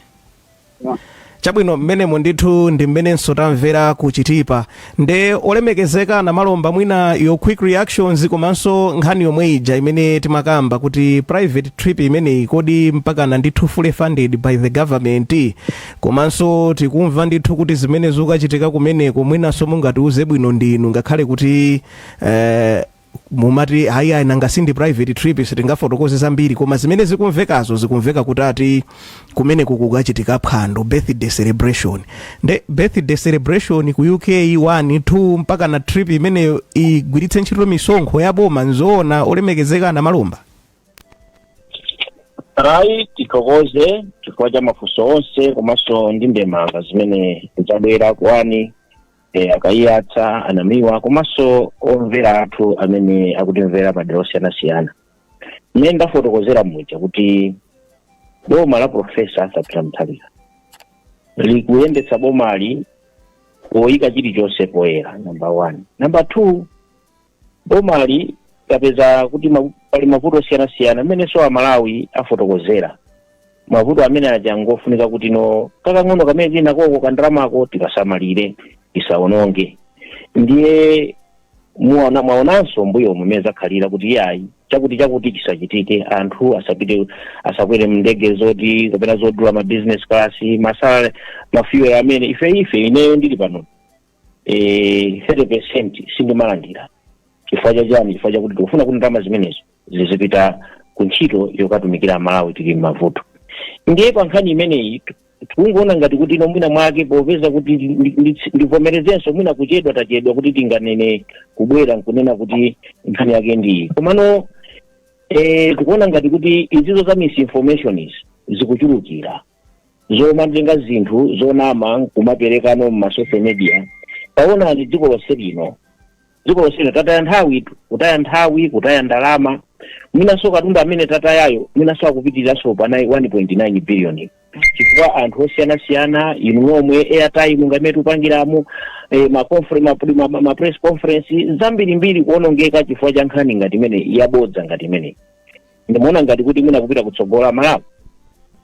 chabwino mmenemo ndithu ndi mmenenso tamvera kuchitipa nde olemekezeka namalomba mwina your quick reactions komanso nkhani yomwe ija imene timakamba kuti private trip imeneyi kodi mpakana ndithu fully funded by the government komanso tikumva ndithu kuti zimene zikuchitika kumeneko mwinanso mungatiuze bwino ndinu ngakhale kuti eh, mumati hayi ayi nanga sindi private trip sitingafotokoze zambiri koma zimene zikumvekazo zikumveka kuti ati kumeneko kukachitika phwando birthday celebration nde birthday celebration ku uk 1 2 mpaka na trip imeneyo igwiritse ntchito misonkho ya boma nzoona olemekezeka namalomba ayi tithokoze chifukwa cha mafunso onse komanso ndi ndemanga zimene zabwera kwa e, a kayiyatsa anamiwa komanso omvera athu amene akutimvera madera osiyanasiyana mmene ndafotokozera muja kuti boma la profesa arthur peter mutharika likuyendetsa bomali poyika chilichonse poyera namba one namba two bomali tapeza kuti ma- pali mavuto osiyanasiyana amenenso amalawi afotokozera mavuto amene aja ngofunika kuti no kakang'ono kamene tili nakoko kandalamako tikasamalire tisaononge ndiye muona mwaonanso mbuyo mumene zakhalira kuti iyayi chakuti chakuti chisachitike anthu asapite asakwere mndege zoti kapena zodula ma business class masala ma fuel amene ife ife ineyo ndili pano eh, 30 percent sindimalandira chifukwa cha chani chifukwa chakuti tikufuna kuti ndalama zimenezo zizipita ku ntchito yokatumikira amalawi tili m'mavuto ndiye pa nkhani imeneyi tu- tikungoona ngati kuti ino mwina mwake popeza kuti ndi- ndi- ndi- ndivomerezenso mwina kuchedwa tachedwa kuti tikanene kubwera nkunena kuti nkhani yake ndiyi komano eh, tikuona ngati kuti izi za misinformation izi zikuchulukira zomatenga zinthu zonama nkumaperekano mma social media taonani dziko lonse lino dziko lonse lino tataya nthawi tu- kutaya nthawi kutaya ndalama mwinanso katundu amene tatayayo mwinanso akupitiriranso pa 1.9 billion chifukwa anthu osiyanasiyana inu nomwe airtime ngati mmene tikupangiramo eh, ma confer- ma, ma, ma, ma press conference zambirimbiri kuonongeka chifukwa cha nkhani ngati imeneyi yabodza ngati imene ndimaona ngati kuti mwina kupita kutsogola malawi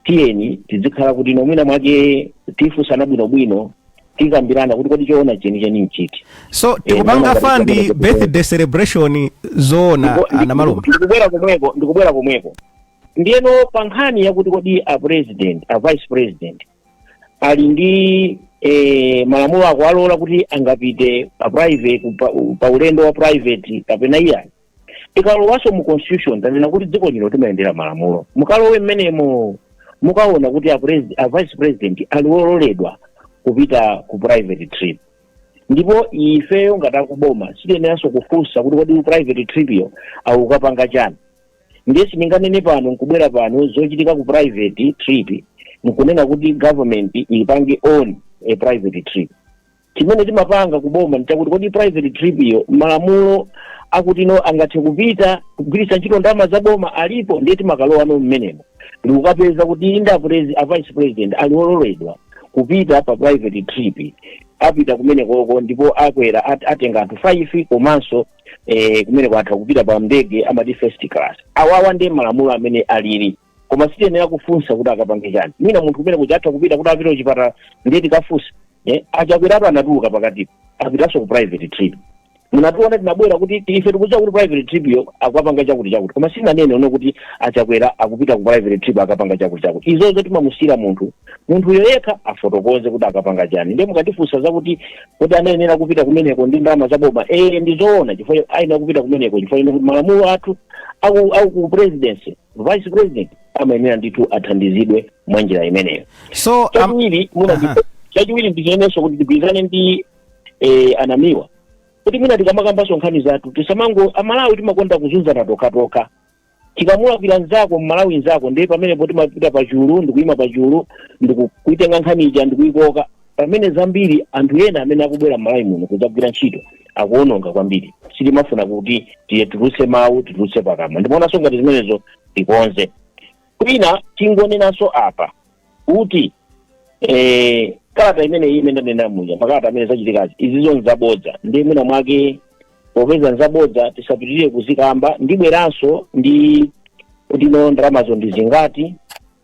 tiyeni tizikhala kuti no mwina mwake tifunsana bwinobwino tikambirana kuti kodi choona chenicheni nchiti so tikupanga ndikuona ngati fandi chimene chikuchitika. birthday celebration zoona Ndipo- ndi- a Namalomba ndi- ndikubwera komweko ndikubwera komweko ndiyeno pa nkhani yakuti kodi a president a vice president ali ndi eh, malamulo akuwalola kuti angapite pa private pa, pa ulendo wa private kapena iyayi tikalowanso mu constitution tanena kuti dziko lino timayendera malamulo mukalowe mmenemo mukaona kuti a, presi- a vice president ali ololedwa kupita ku private trip ndipo ifeyo ngati akuboma sitiyeneranso kufunsa kuti kodi ku private trip yo akukapanga chani ndiye sindinganene pano nkubwera pano zochitika ku private trip nkunena kuti government ipange on a private trip chimene timapanga ku boma nchakuti kodi private trip yo malamulo akuti no angathe kupita kugwiritsa ntchito ndalama za boma alipo ndiye timakalowa no mmenemo ndikukapeza kuti inde a presi- a vice president ali ololedwa kupita pa private trip apita kumenekoko ndipo akwera at- atenga anthu 5 komanso eh, kumeneko atha kupita pa ndege amati first class awawa ndiye malamulo amene alili koma sitiyenera kufunsa kuti akapange chani mwina munthu kumene kuja atha kupita kuti apite kuchipatala ndiye tikafunsa eh, a Chakwerapo anatuluka pakatipo apitanso ku private trip munationa tinabwera kuti ife tikudziwa kuti private trip yo akapanga chakuti chakuti koma sinanene ine kuti a Chakwera akupita ku private trip akapanga chakuti chakuti izozo timamusiyira munthu munthuyo yekha afotokoze kuti akapanga chani ndiye mukatifunsa zakuti kodi anayenera kupita kumeneko ndi ndalama zaboma eh ndizoona chifukwa ayenera kupita kumeneko chifukwa ine kuti malamulo athu aku aku ku presidency vice president amayenera ndithu athandizidwe mwa njira imeneyo so um, chachiwiri muna Aha. chachiwiri ndichinenenso kuti tigwirizane ndi eh, a Namiwa kuti mwina tikamakambanso nkhani zathu tisamango amalawi timakonda kuzunzana tokhatokha chikamulakwira nzako mmalawi nzako ndiye pamenepo timapita pachulu ndikuyima pachulu ndikuitenga nkhani ija ndikuyikoka pamene zambiri anthu ena amene akubwera m'malawi muno kudzagwira ntchito akuononga kwambiri sitimafuna kuti tituluse mawu tituluse pakamwa ndimaonanso ngati zimenezo tikonze kwina tingonenanso apa kuti eh, kalata imeneyi imene ndanena muja makalata amene zachitikazi izizo nzabodza ndiye mwina mwake popeza nzabodza tisapitirire kuzikamba ndibweranso ndi kuti no ndalamazo ndi zingati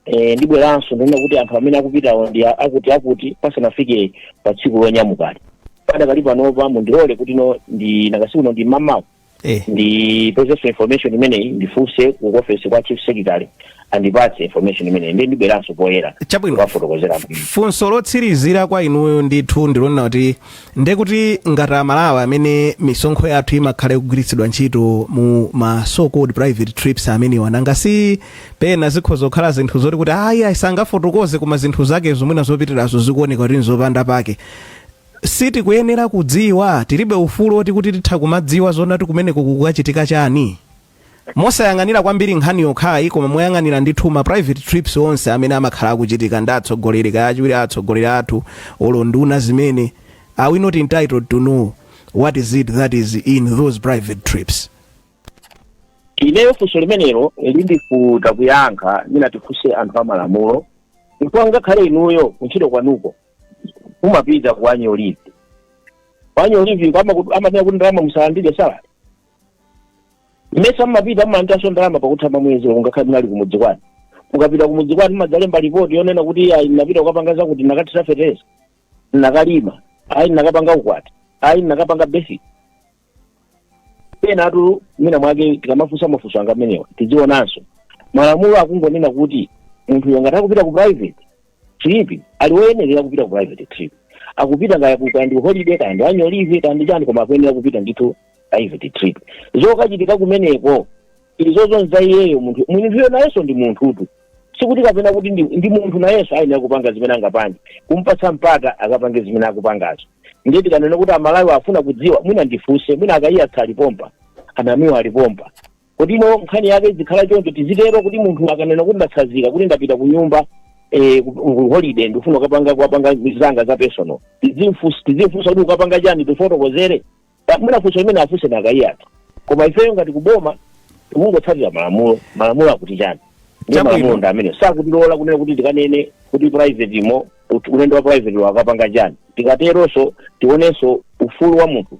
e, ndibweranso ndinena kuti anthu amene akupitawo ndi a- akuti akuti pasanafike pa tsiku lonyamukali padakali panopa mundilole kuti no ndina usiku uno ndi mamawa eh. ndipezeso information imeneyi ndifunse ku office kwa chief secretary andipatse information imeneyi ndiye ndibweranso poyera Chabwino. kuwafotokozera bwino. funso lotsirizira kwa inuyo ndithu ndilonena kuti ndekuti ngati amalawi amene misonkho yathu imakhala ikugwiritsidwa ntchito mu ma so called private trips amenewa nanga si pena zikhoza kukhala zinthu zoti kuti ayi ayi sangafotokoze koma zinthu zake zomwena zopitirazo zikuoneka kuti nzopanda pake sitikuyenera kudziwa tilibe ufulu oti kuti titha kumadziwa zonena kuti kumeneko kukukachitika chani mosayang'anira kwambiri nkhani yokhayi koma moyang'anira ndithu ma private trips onse amene amakhala akuchitika ndi atsogoleri kaya achiwiri a atsogoleri athu olo nduna zimene are we not entitled to know what is it that is in those private trips ineyo funso limenelo lindivuta kuyankha mwina tifunse anthu amalamulo chifukwa ngakhale inuyo kuntchito kwanuko mumapita ku annual leave ku annual leave amaku- amanena kuti ndalama musalandire salary mmesa mmapita mmalandiranso ndalama pakutha pa mwezi ngakhale munali kumudzi kwanu mukapita kumudzi kwanu mmadzalemba ripoti yonena kuti ayi ndinapita kukapanga zakuti ndinakathira fetereza ndinakalima ayi ndinakapanga ukwati ayi ndinakapanga basic penatu mwina mwake tikamafunsa mafunso onga amenewa tidzionanso malamulo akungonena kuti munthuyo ngati akupita ku private trip ali woyenerera kupita ku private trip akupita kaya ku- kaya ndi holiday kaya ndi annual leave kaya ndi chani koma akuyenera kupita ndithu private trip zokachitika kumeneko izozo nza iyeyo munthu munthuyo nayenso ndi munthutu sikuti kapena kuti ndi, ndi munthu nayenso ayenera kupanga zimene angapange kumpatsa mpata akapange zimene akupangazo ndiye tikanena kuti amalawi afuna kudziwa mwina ndifunse mwina a kaiya alipompa a namiwa alipompa kuti no nkhani yake izikhala choncho tizitero kuti munthu akanena kuti ndatsazika kuti ndapita ku nyumba eh, ku- ku holiday ndikufuna kukapanga kukapanga zanga za personal tizimfunsa tizimfunsa kuti ukapanga chani tifotokozere mwina funso limene afunse ndi a kaiyatu koma ifeyo ngati kuboma tikungotsatira malamulo malamulo akuti chani ndi Chabwino. malamulo ndi amene sakutilola kunena kuti tikanene kuti private imo ut- ulendo wa private wakapanga chani tikateronso tionenso ufulu wa munthu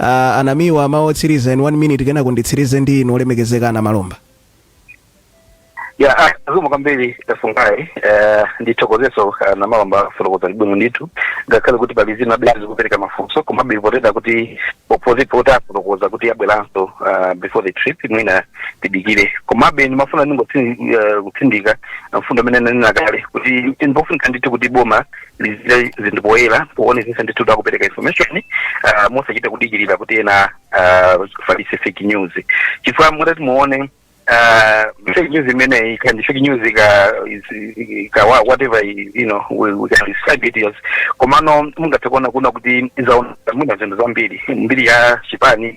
Ah, a namiwa mawu otsiriza in one minute kenako nditsirize ndi inu olemekezeka a namalomba ya ah, zikomo kwambiri fungai eh, ndithokozenso a namalomba kufotokoza bwino ndithu ngakhale kuti pali zinabe zi- zikupereka mafunso komabe potengera kuti opposite poti afotokoza kuti abweranso ah, before the trip mwina tidikire komabe ndimafuna ndingotsindika mfundo imene ndanena kale kuti ndikofunika ndithu kuti boma liziika zinthu poyera poonetsetsa ndithu kuti akupereka information uh, mosachita kudikirira kuti ena uh, afalitse fake news chifukwa mutati muone uh, fake news imeneyi kaya ndi fake news ka, is- ka wha- whatever i- you know we, we can describe it as komano mungathe kuona kunena kuti zaononga mwina zinthu zambiri mbiri ya chipani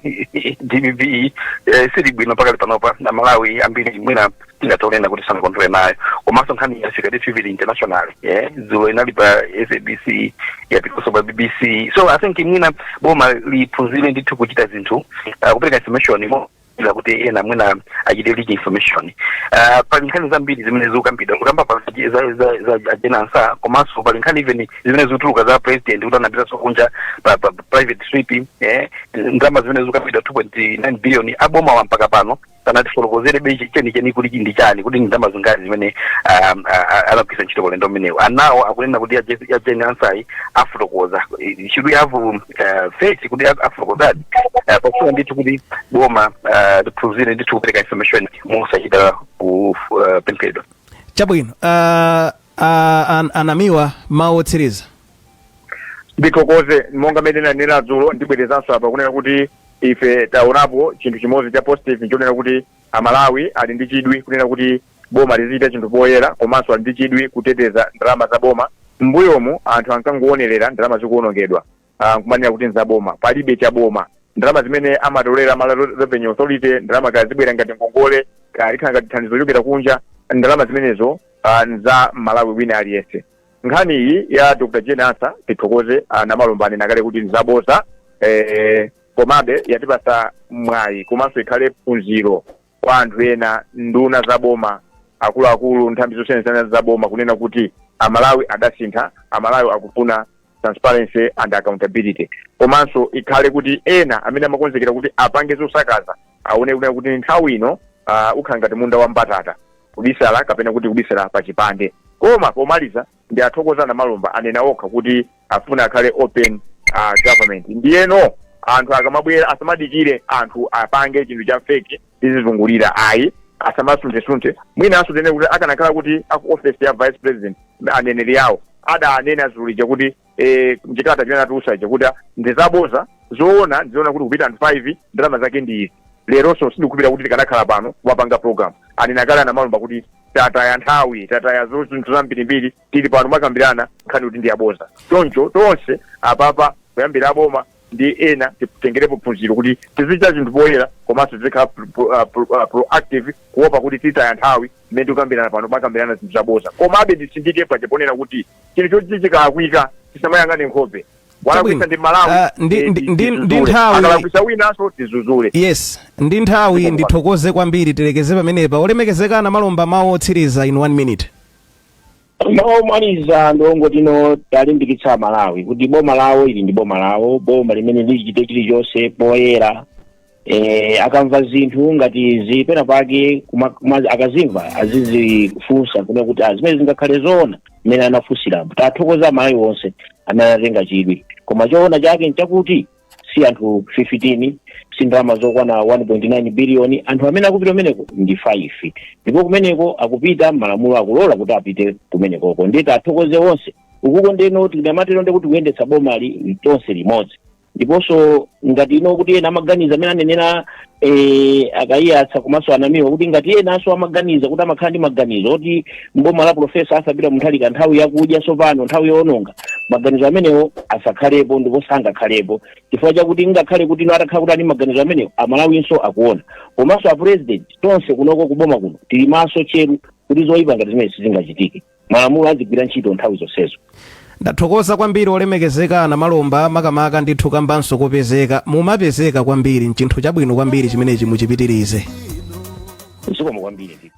dpp eh, siili bwino pakali panopa amalawi ambiri mwina tingathe kunena kuti sanakondwere nayo komanso nkhani yafika ndi CP international eh, dzulo inali pa sabc yapitanso pa bbc so i think mwina boma liphunzire ndithu kuchita zinthu uh, kupereka information mo- ila kuti ena mwina achite leak information uh, pali nkhani zambiri zimene zikukambidwa kukamba pa za, za, za, za a Jane Ansah komanso pali nkhani even zimene zikutuluka za president kuti anapitanso kunja pa, pa, pa private trip eh, ndalama zimene zikukambidwa 2.9 billion abomawa mpaka pano sanatifotokozerebe chenicheni kuti ndi chani kuti ndi ndalama zingati zimene um, a- a- anagwiritsa ntchito pa ulendo umenewu anawo akunena kuti a Je- a Jane Ansah-yi afotokoza Eh, should we have um, eh, faith kuti a- afotokozadi Eh, pofuna ndithu kuti boma eh, liphunzire ndithu kupereka information mosachita kupemphedwa chabwino uh, uh, an, a Namiwa mawu otsiriza ndithokoze monga mmene nanena dzulo ndibwerezanso apa kunena kuti Ife taonapo chinthu chimodzi cha positive nchonena kuti a Malawi ali ndi chidwi kunena kuti boma lizichita chinthu poyera komanso ali ndi chidwi kuteteza ndalama za boma. M'mbuyomu anthu ankangoonerera ndalama zikuonongedwa ah, nkumanena kuti nzaboma. Palibe cha boma. Ndalama zimene amatolera Malawi Revenue Authority, ndalama kaya zibwera ngati ngongole, kaya likhala ngati thandizo lochokera kunja, ndalama zimenezo ah, nza Mmalawi wina aliyense. Nkhani iyi ya Dr. Jane Ansah tithokoze a Namalomba anena kale kuti nzaboza eh, komabe yatipatsa mwayi komanso ikhale phunziro kwa anthu ena nduna za boma akuluakulu nthambi zosiyanasiyana za boma kunena kuti amalawi adasintha amalawi akufuna transparency and accountability komanso ikhale kuti ena amene amakonzekera kuti apange zosakaza aone kunena kuti nthawi ino uh, ukhala ngati munda wa mbatata kubisala kapena kuti kubisala pa chipande koma pomaliza ndiwathokoze a Namalomba anena okha kuti afuna akhale open uh, government ndiyeno anthu akamabwera asamadikire anthu apange chinthu cha feki tizizungulira ayi asamasunthesunthe mwinanso tinene kuti akanakhala kuti aku office ya vice president aneneri awo adanena dzulo lija kuti eh, mchikalata chimene atulutsacho kuti ah, ndi zaboza zoona ndi zonena kuti kupite anthu 5 ndalama zake ndi izi leronso sindikhulupira kuti tikanakhala pano kumapanga program anena kale a Namalomba kuti tataya nthawi tataya zo- zinthu zambirimbiri tili pano kumakambirana nkhani kuti ndi yaboza choncho tonse apapa kuyambira aboma ndi ena titengerepo phunziro kuti tizichita zinthu poyera komanso tizikhala pro- pro- ah, pro- ah, proactive kuopa kuti titaya nthawi mmene tikukambirana pano kumakambirana zinthu zaboza komabe nditsindike paja ponena kuti chinthu choti chikalakwika tisamayang'ane nkhope walakwitsa ndi malawi Ah, ndi- eh, ndi- ndi- ndi tizuzule. nthawi- akalakwitsa winanso tidzudzule yes ndi nthawi ndithokoze kwambiri tilekeze pamenepa olemekezeka a Namalomba mawu otsiriza in one minute Mawu omaliza ndi ongoti no tiwalimbikitse Amalawi kuti boma lawo ili ndi boma lawo, boma limene lichite chilichonse poyera. E, akamva zinthu ngati izi penapake kuma, kuma, akazimva azizifunsa kunena kuti ah, zimenezi zingakhale zoona mmene anafunsiramo tiwathokoze Amalawi onse amene anatenga chidwi koma choona chake nchakuti si anthu 15 si ndalama zokwana 1.9 biliyoni anthu amene akupita kumeneko ndi 5 ndipo kumeneko akupita malamulo akulola kuti apite kumenekoko ndiye tiwathokoze onse ukuko ndiyeno tikamatero ndiye kuti kuyendetsa bomali tonse limodzi ndiponso ngati ino kuti ena amaganiza mmene anenera eh, a Kaiyatsa komanso a Namiwa kuti ngati enanso amaganiza kuti amakhala ndi maganizo oti mboma la profesa azapita a Mutharika nthawi yakudya sopano nthawi yoononga maganizo amenewo asakhalepo ndipo sangakhalepo chifukwa chakuti ngakhale kuti ino atakhala kuti ali ndi maganizo amenewo amalawinso akuona komanso a president tonse kunoko kuboma kuno tili maso tcheru kuti zoyipa ngati zimenezi zisachitike malamulo azigwira ntchito nthawi zonsezo ndathokoza kwambiri olemekezeka a Namalomba makamaka ndithu kambanso kopezeka mumapezeka kwambiri nchinthu chabwino kwambiri chimenechi muchipitirize zikomo kwambiri ndithu